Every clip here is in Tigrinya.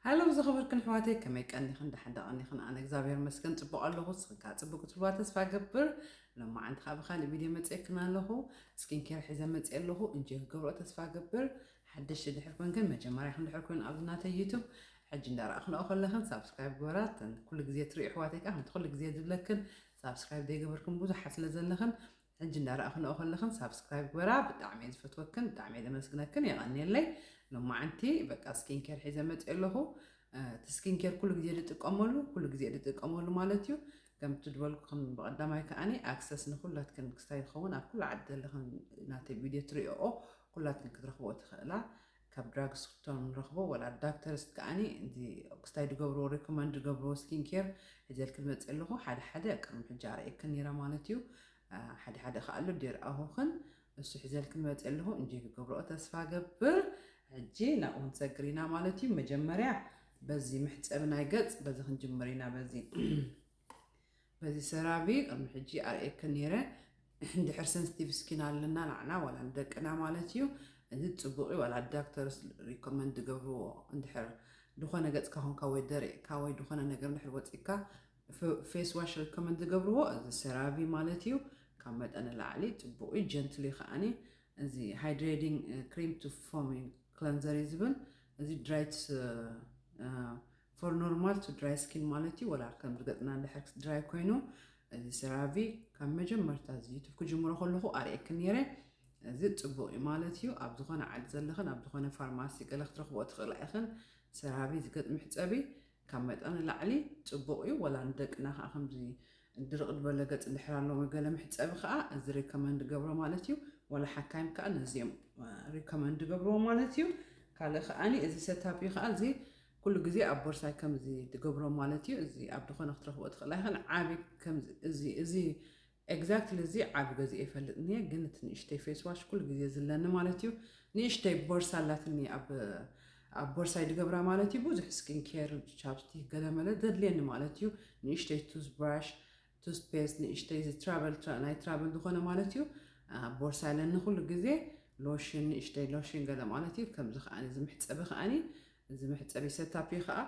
ሃሎ ዝኸበርክን ኣሕዋተይ ከመይ ቀኒኽን ደሓን ዳቐኒኽን ኣነ እግዚኣብሔር መስገን ፅቡቕ ኣለኹ ንስኽንካ ፅቡቅ ክትልዋ ተስፋ ገብር ሎማዓንቲ ከዓ ብካሊእ ቪድዮ መፅኤክን ኣለኹ ስኪን ኬር ሒዘ መፅኤ ኣለኹ እንጂ ክገብሮ ተስፋ ገብር ሓደሽቲ ድሕር ኮንክን መጀመርያኽን ድሕር ኮይኑ ኣብዚ ናተይ ዩቱብ ሕጂ እንዳረኣኽንኦ ከለኽን ሳብስክራይብ ግበራ ተን ኩሉ ግዜ ትሪኡ ኣሕዋተይ ከዓ ከምቲ ኩሉ ግዜ ዝብለክን ሳብስክራይብ ዘይገበርክን ብዙሓት ስለ ዘለኽን ሕጂ እንዳ ራኣክንኦ ከለክን ሳብስክራይብ ግበራ ብጣዕሚ እየ ዝፈትወክን ብጣዕሚ እየ ዘመስግነክን የቀንየለይ ሎማዓንቲ በቃ ስኪን ኬር ሒዘ መፅእ ኣለኩ እቲ ስኪን ኬር ኩሉ ግዜ ድጥቀመሉ ኩሉ ግዜ ድጥቀመሉ ማለት እዩ ከምቲ ድበልኩክን ብቀዳማይ ከዓኒ ኣክሰስ ንኩላትክን ክስታይ ዝኸውን ኣብ ኩሉ ዓዲ ዘለክን ናተይ ቪድዮ ትሪኦኦ ኩላትክን ክትረክቦ ትክእላ ካብ ድራግ ስቶር ንረኽቦ ወላ ዳክተርስ ከኣኒ እዚ ክስታይ ድገብርዎ ሪኮመንድ ድገብርዎ ስኪን ኬር ሒዘልኪ ዝመጽእ ኣለኹ ሓደ ሓደ ቅድሚ ሕጂ ኣርእየክን ኔረ ማለት እዩ ሓደ ሓደ ከኣ ኣሎ ዴርኣኹክን እሱ ሒዘልኪ መጽእ ኣለኹ እንጆይ ክገብርኦ ተስፋ ገብር ሕጂ ናብኡ ክንሰግር ኢና ማለት እዩ መጀመርያ በዚ መሕጸቢ ናይ ገጽ በዚ ክንጅምር ኢና በዚ በዚ ሰራቪ ቅድሚ ሕጂ ኣርእየክን ነይረ እንድሕር ሰንስቲቭ ስኪን ኣለና ናዕና ዋላ ንደቅና ማለት እዩ እዚ ጽቡቅ እዩ ዋላ ዳክተርስ ሪኮመንድ ዝገብርዎ እንድሕር ድኾነ ገጽካ ኮንካ ወይ ደሪቕካ ወይ ድኾነ ነገር እንድሕር ወጺካ ፌስ ዋሽ ሪኮመንድ ዝገብርዎ እዚ ሰራቪ ማለት እዩ ካብ መጠን ንላዕሊ ጽቡቅ እዩ ጀንትል እዩ ከዓኒ እዚ ሃይድሬቲንግ ክሪም ቱ ፎሚንግ ክለንዘር እዩ ዝብል እዚ ድራይትስ ፎር ኖርማል ቱ ድራይ ስኪን ማለት እዩ ወላ ከም ርገጽና ድሕር ድራይ ኮይኑ እዚ ሰራቪ ካብ መጀመርታ እዚ ዩቱብ ክጅምሮ ከለኹ ኣርእየክ ነይረ እዚ ጽቡቕ እዩ ማለት እዩ ኣብ ዝኾነ ዓዲ ዘለኽን ኣብ ዝኾነ ፋርማሲ ገለ ክትረኽቦ ትኽእላ ኢኽን ሰራቪ ዝገጥ ምሕጸቢ ካብ መጠን ላዕሊ ጽቡቕ እዩ ወላ ንደቅና ከዓ ከምዚ ድርቕ ዝበለ ገጽ እንድሕር ኣለዎ ገለ መሕጸቢ ከዓ እዚ ሪኮመንድ ገብሮ ማለት እዩ ወላ ሓካይም ከዓ ነዚኦም ሪኮመንድ ገብርዎ ማለት እዩ ካልእ ከዓኒ እዚ ሰታፕ እዩ ከዓ እዚ ኩሉ ግዜ ኣብ ቦርሳይ ከምዚ ድገብሮ ማለት እዩ እዚ ኣብ ድኮነ ክትረክቦ ትክእል ኣይክን ዓቢ ከምዚ እዚ እዚ ኤግዛክትሊ እዚ ዓቢ ገዚኤ ይፈልጥ እንየ ግን እቲ ንእሽተይ ፌስ ዋሽ ኩሉ ግዜ ዝለኒ ማለት እዩ ንእሽተይ ቦርሳ ኣላትኒ ኣብ ኣብ ቦርሳይ ድገብራ ማለት እዩ ብዙሕ ስኪን ኬር ቻፕስቲክ ገለመለ ዘድልየኒ ማለት እዩ ንእሽተይ ቱዝ ብራሽ ቱዝፔስት ንእሽተይ እዚ ትራቨል ትራ ናይ ትራቨል ዝኾነ ማለት እዩ ኣብ ቦርሳ ኣለኒ ኩሉ ግዜ ሎሽን ንእሽተይ ሎሽን ገለ ማለት እዩ ከምዚ ከዓኒ እዚ መሕጸቢ ከዓኒ እዚ መሕጸቢ ሰታፕ እዩ ከኣ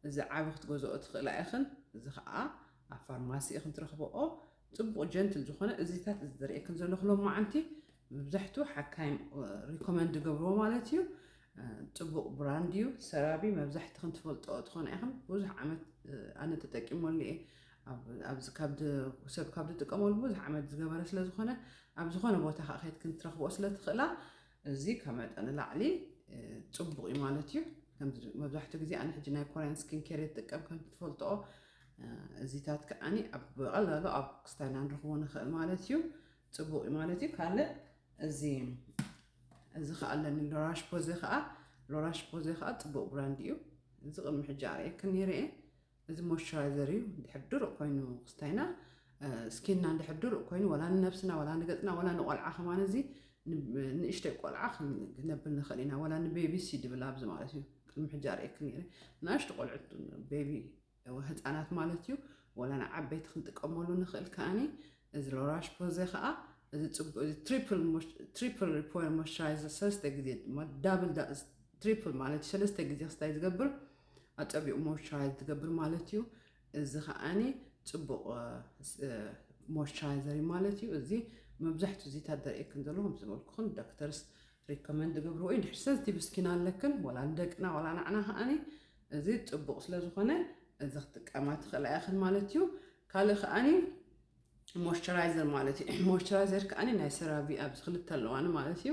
እዚ ዓቢ ክትገዝኦ ትኽእላ ኢኽን እዚ ከኣ ኣብ ፋርማሲ ኢኽን ትረኽብኦ ጽቡቕ ጀንትል ዝኾነ እዚታት እዚ ዝርእየክን ዘለኹ ሎማዓንቲ መብዛሕትኡ ሓካይም ሪኮመንድ ገብርዎ ማለት እዩ ጽቡቕ ብራንድ እዩ ሰራቢ መብዛሕትኽን ትፈልጦ ትኾና ኢኽን ብዙሕ ዓመት ኣነ ተጠቂመሉ እየ ኣብዚ ሰብ ካብ ዝጥቀመሉ ብዙሕ ዓመት ዝገበረ ስለ ዝኾነ ኣብ ዝኾነ ቦታ ከዓ ከይትክን ክትረኽቦ ስለ ትኽእላ እዚ ካብ መጠን ንላዕሊ ፅቡቕ እዩ ማለት እዩ መብዛሕትኡ ግዜ ኣነ ሕጂ ናይ ኮርያን ስኪን ኬር ይጥቀም ከም ትፈልጥኦ እዚታት ከዓኒ ኣብ ብቐላሉ ኣብ ክስታይና ንረኽቦ ንኽእል ማለት እዩ ፅቡቕ እዩ ማለት እዩ ካልእ እዚ እዚ ከዓ ኣለኒ ሎራሽ ፖዘ ከዓ ሎራሽ ፖዘ ከዓ ፅቡቕ ብራንድ እዩ እዚ ቅድሚ ሕጂ ኣርእየክን ነይረ እየ እዚ ሞይስቸራይዘር እዩ ድሕር ድሩቕ ኮይኑ ክስታይና ስኪንና ድሕር ድሩቕ ኮይኑ ወላ ንነብስና ወላ ንገፅና ወላ ንቆልዓ ከማን እዚ ንእሽተይ ቆልዓ ክነብል ንኽእል ኢና ወላ ንቤቢ ሲድ ብል ኣብዚ ማለት እዩ ቅድሚ ሕጂ ኣርእየክ ነይረ ንኣሽቱ ቆልዑት ቤቢ ህፃናት ማለት እዩ ወላ ንዓበይቲ ክንጥቀመሉ ንኽእል ከዓኒ እዚ ሎራሽ ፖዘ ከዓ እዚ ፅቡቅ እዚ ትሪፕል ሪፖር ሞይስቸራይዘር ሰለስተ ግዜ ድማ ዳብል ትሪፕል ማለት እዩ ሰለስተ ግዜ ክስታይ ዝገብር ኣጸቢቑ ሞይስቸራይዝ ዝገብር ማለት እዩ። እዚ ከዓኒ ጽቡቕ ሞይስቸራይዘር እዩ ማለት እዩ። እዚ መብዛሕትኡ እዚታት ዘርእየክን ዘሎ ከም ዝበልኩኽን ዶክተርስ ሪኮመንድ ዝገብርዎ እዩ። ድሕሪ ሰንሲቲቭ ስኪን ኣለክን ወላ ንደቅና ወላ ንዓና ከዓኒ እዚ ጽቡቕ ስለ ዝኾነ እዚ ክጥቀማ ትኽእላ ኢኽን ማለት እዩ። ካልእ ከዓኒ ሞይስቸራይዘር ማለት እዩ። ሞይስቸራይዘር ከዓኒ ናይ ሰራቪ ኣብዚ ክልተ ኣለዋኒ ማለት እዩ።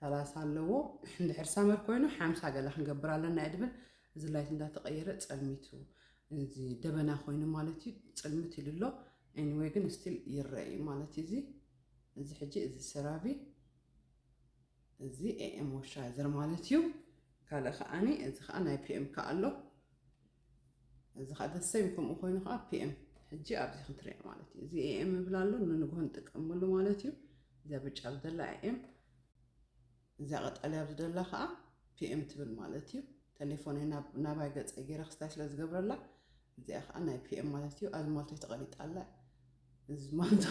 ሰላሳ ኣለዎ እንድሕር ሳመር ኮይኑ ሓምሳ ገለ ክንገብር ኣለና እየ ድብል እዚ ላይት እንዳተቐየረ ጸልሚቱ እዚ ደበና ኮይኑ ማለት እዩ ጽልምት ኢሉ ኣሎ ኤኒዌይ ግን ስቲል ይረአ እዩ ማለት እዩ እዚ እዚ ሕጂ እዚ ሰራቪ እዚ ኤኤም ሞይስቸራይዘር ማለት እዩ ካልእ ከዓኒ እዚ ከዓ ናይ ፒኤም ከዓ ኣሎ እዚ ከዓ the same ከምኡ ኮይኑ ከዓ PM ሕጂ ኣብዚ ክትሪኦ ማለት እዩ እዚ AM እብል ኣሎ ንንግሆ ንጥቀመሉ ማለት እዩ እዚኣ ብጫ ኣብ ዘላ AM እዚኣ ቀጠልያ ኣብ ዝደላ ከዓ PM ትብል ማለት እዩ ቴሌፎነይ ናባይ ገፀይ ገይረ ክስታይ ስለ ዝገብረላ እዚኣ ከዓ ናይ PM ማለት እዩ ኣብዚ ማልቶ ተቐሊጣ ኣላ እዚ ማልቶ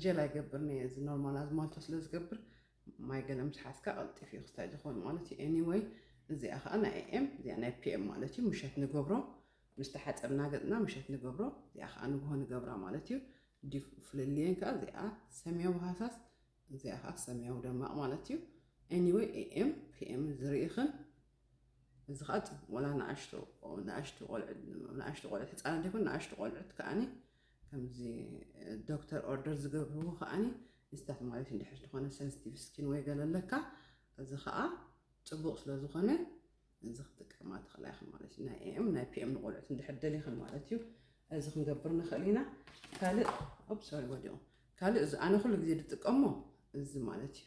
ጀላ ይገብር ነየ እዚ ኖርማል ኣብዚ ማልቶ ስለ ዝገብር ማይ ገለ ምስ ሓዝካ ቀልጢፉ እዩ ክስታይ ዝኸውን ማለት እዩ ኤኒወይ እዚኣ ከኣ ናይ ኤኤም እዚኣ ናይ ፒኤም ማለት እዩ ምሸት ንገብሮ ምስ ተሓጸብና ገጽና ምሸት ንገብሮ እዚኣ ከኣ ንግሆ ንገብራ ማለት እዩ ዲፍ ፍልልየን ከኣ እዚኣ ሰማያዊ ሃሳስ እዚኣ ከኣ ሰማያዊ ደማቕ ማለት እዩ ኤኒወይ ኤኤም ፒኤም ዝርኢኽን እዚ ከዓ ወላ ንኣሽቱ ቆልዑ ንኣሽቱ ቆልዑት ህፃናት ይኹን ንኣሽቱ ቆልዑት ከዓኒ ከምዚ ዶክተር ኦርደር ዝገብርዎ ከኣኒ ንስታፍ ማለት እዩ እንድሕር ዝኾነ ሰንስቲቭ ስኪን ወይ ገለ ኣለካ እዚ ከኣ ጽቡቕ ስለ ዝኾነ እዚ ክትጥቀማ ትኽእላ ኢኺ ማለት እዩ ናይ ኤም ናይ ፒኤም ንቆልዑት እንድሕር ደሊኽን ማለት እዩ እዚ ክንገብር ንኽእል ኢና ካልእ ኦፕ ሶሪ ወዲቑ ካልእ እዚ ኣነ ኩሉ ግዜ ዝጥቀሞ እዚ ማለት እዩ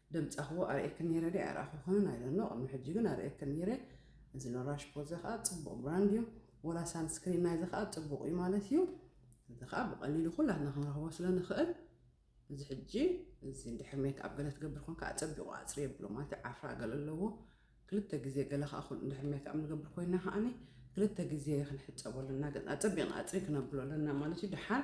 ደምጻኽዎ ኣርእየክን ኔረ ድየ ኣይረኣኹክንን ኣይ ዶንት ኖው ቅድሚ ሕጂ ግን ኣርእየክን ኔረ እዚ ሎራሽ ፖዘ ከኣ ጽቡቕ ብራንድ እዩ ወላ ሳንስክሪን ናይዚ ከኣ ጽቡቕ እዩ ማለት እዩ እዚ ከኣ ብቐሊሉ ኩላትና ክንረኽቦ ስለ ንኽእል እዚ ሕጂ እዚ ድሕሪ ሜክ ኣብ ገለ ትገብር ኮንካ ኣጸቢቑ ኣጽሪ የብሎ ማለት ዓፍራ ገለ ኣለዎ ክልተ ግዜ ገለ ከኣ ኩን ድሕሪ ሜክ ኣብ ንገብር ኮይና ከኣኒ ክልተ ግዜ ክንሕጸቦ ኣለና ገጽና ኣጸቢቕና ኣጽሪ ክነብሎ ኣለና ማለት እዩ ድሓር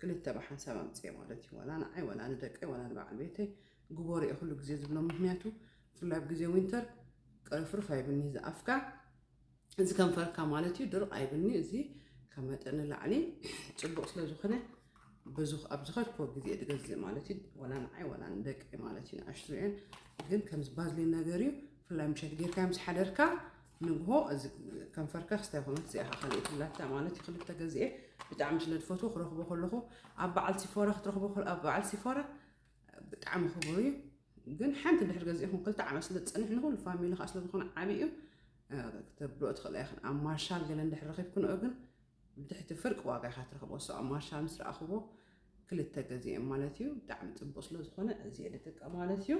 ክልተ ብሓንሳብ ኣምጺኤ ማለት እዩ ዋላ ንዓይ ዋላ ንደቀይ ዋላ ንበዓል ቤተይ ግበሩ'የ ኩሉ ግዜ ዝብሎ ምክንያቱ ብፍላይ ኣብ ግዜ ዊንተር ቅርፍርፍ ኣይብልኒ እዚ ኣፍካ እዚ ከንፈርካ ማለት እዩ ድርቕ ኣይብልኒ እዚ ካብ መጠን ንላዕሊ ጽቡቕ ስለ ዝኾነ ኣብ ዝኸድክዎ ግዜ ድገዝእ ማለት እዩ ዋላ ንዓይ ዋላ ንደቀይ ማለት እዩ ንኣሽቱ እየን ግን ከምዚ ባዝሊን ነገር እዩ ብፍላይ ምሸት ጌርካ ምስ ሓደርካ ንግሆ እዚ ከንፈርከ ክስታይ ኮመት እዚኣ ከዓ ካልእ ትብላታ ማለት እዩ ክልተ ገዚኤ ብጣዕሚ ስለ ዝፈትዎ ክረኽቦ ከለኹ ኣብ በዓል ሲፎራ ክትረኽቦ ኣብ በዓል ሲፎራ ብጣዕሚ ክቡር እዩ ግን ሓንቲ ድሕር ገዚእኹም ክልተ ዓመት ስለ ዝፀንሕ ንኹሉ ፋሚሊ ከዓ ስለ ዝኾነ ዓብዪ እዩ ክትብልኦ ትኽእላ ኢኽን ኣብ ማርሻል ገለ እንድሕር ረኺብክንኦ ግን ብትሕቲ ፍርቂ ዋጋ ኢኻ ትረኽቦ so ኣብ ማርሻል ምስ ረኣኽዎ ክልተ ገዚኤ ማለት እዩ ብጣዕሚ ጽቡቅ ስለ ዝኾነ እዚ ልጥቀ ማለት እዩ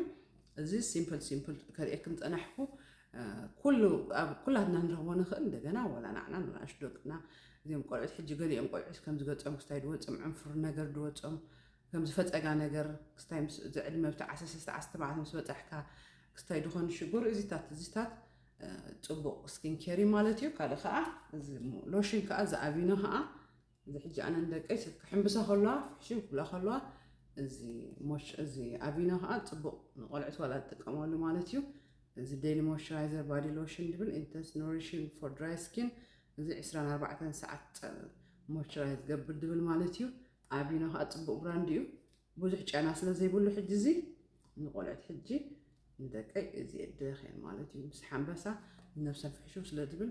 እዚ ሲምፕል ሲምፕል ከርእየክም ጸናሕኩ ኩሉ ኣብ ኩላትና ንረኽቦ ንኽእል እንደገና ወላ ናዕና ንኣሽ ደቅና እዚኦም ቆልዑት ሕጂ ገሊኦም ቆልዑት ከም ዝገጾም ክስታይ ድወጾም ዕንፍሩ ነገር ድወጾም ከም ዝፈጸጋ ነገር ክስታይ ምስ ዝዕድመ ብቲ ዓሰርተ ሰለስተ ዓሰርተ ተባዕተ ምስ በጻሕካ ክስታይ ድኾኑ ሽግሩ እዚታት እዚታት ጽቡቕ ስኪን ኬር እዩ ማለት እዩ ካልእ ከኣ እዚ ሎሽን ከኣ እዚ ኣቪኖ ከኣ እዚ ሕጂ ኣነ ንደቀይ ሰብ ክሕምብሳ ከለዋ ፍሕሽው ክብላ ከለዋ እዚ ሞሽ እዚ ኣቪኖ ከኣ ጽቡቕ ንቆልዑት ዋላ ዝጥቀመሉ ማለት እዩ እዚ ዴይሊ ሞይስቸራይዘር ባዲ ሎሽን ድብል ኢንተንስ ኖሪሽን ፎር ድራይ ስኪን እዚ 24 ሰዓት ሞይስቸራይዝ ገብር ድብል ማለት እዩ ኣቪኖ ከኣ ጽቡቕ ብራንድ እዩ ብዙሕ ጨና ስለ ዘይብሉ ሕጂ እዚ ንቆልዑት ሕጂ ንደቀይ እዚ የድኸን ማለት እዩ ምስ ሓንበሳ ነብሰን ፍሕሹው ስለ ዝብል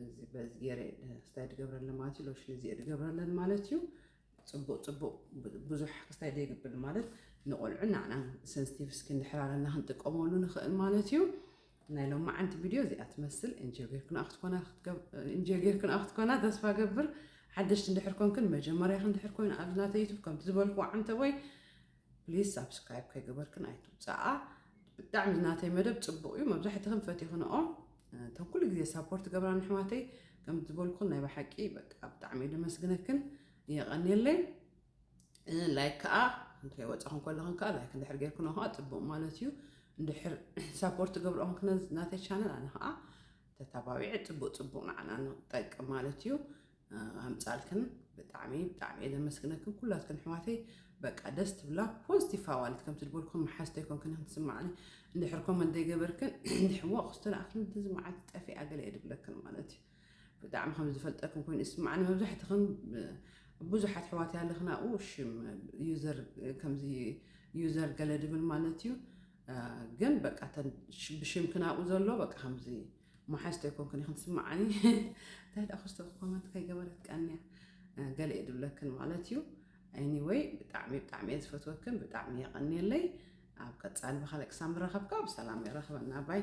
እዚ በዚ ገይረ ክስታይ ድገብረለን ማለት እዩ ሎሽን እዚ ድገብረለን ማለት እዩ ፅቡቅ ፅቡቅ ብዙሕ ክስታይ ደይግብል ማለት ንቆልዑ ናዕና ሰንስቲቭ ስኪን ድሕር ኣለና ክንጥቀመሉ ንኽእል ማለት እዩ ናይ ሎማዓንቲ ቪድዮ እዚኣ ትመስል ኢንጆይ ጌርክንኣ ክትኮና ኢንጆይ ጌርክንኣ ክትኮና ተስፋ ገብር ሓደሽቲ እንድሕር ኮንክን መጀመርያኽ እንድሕር ኮይኑ ኣብዚ ናተ ዩቱብ ከምቲ ዝበልክዎ ዓንተቦይ ፕሊዝ ሳብስክራይብ ከይገበርክን ኣይትውፅኣ ብጣዕሚ ናተይ መደብ ፅቡቕ እዩ መብዛሕትኽን ፈቲኽንኦ እቶም ኩሉ ግዜ ሳፖርት ገብራ ንሕዋተይ ከም ዝበልኩን ናይ ብሓቂ በቃ ብጣዕሚ ደመስግነክን የቐንየለይ ላይክ ከዓ እንታይ ወፃኹም ከለኹም ከዓ ላይክ እንድሕር ጌርኩኖ ከዓ ፅቡቅ ማለት እዩ እንድሕር ሳፖርት ገብርኦም ክነ ናተይ ቻነል ኣነ ከዓ ተታባቢዐ ፅቡቅ ፅቡቅ ንዓና ንጠቅም ማለት እዩ ኣምፃልክን ብጣዕሚ ብጣዕሚ እየ ዘመስግነክን ኩላትክን ኣሕዋተይ በቃ ደስ ትብላ ፖዚቲቭ ኣዋልድ ከምቲ ዝበልኩም መሓዝተ ይኮንክን ከም ትስማዕኒ እንድሕር ኮመንት ዘይገበርክን እንድሕር ወቅ ዝተላእክን እዚ መዓልቲ ጠፊኣ ገለ እየ ድብለክን ማለት እዩ ብጣዕሚ ከም ዝፈልጠክን ኮይኑ ይስማዓኒ መብዛሕትክን ብዙሓት ኣሕዋት ያለክና ኣኡ ሽም ዩዘር ከምዚ ዩዘር ገለ ድብል ማለት እዩ ግን በቃ ብሽምክን ኣብኡ ዘሎ በቃ ከምዚ መሓዝቶ ይኮንክን ይክን ትስማዓኒ እንታይ ደኣ ክስቶ ኮመንት ከይገበረት ቀንያ ገለ እዩ ድብለክን ማለት እዩ ኤኒወይ ብጣዕሚ ብጣዕሚ እየ ዝፈትወክን ብጣዕሚ የቐንየለይ ኣብ ቀፃሊ ብካልእ ክሳብ ንራኸብካ ብሰላም የራኽበና ባይ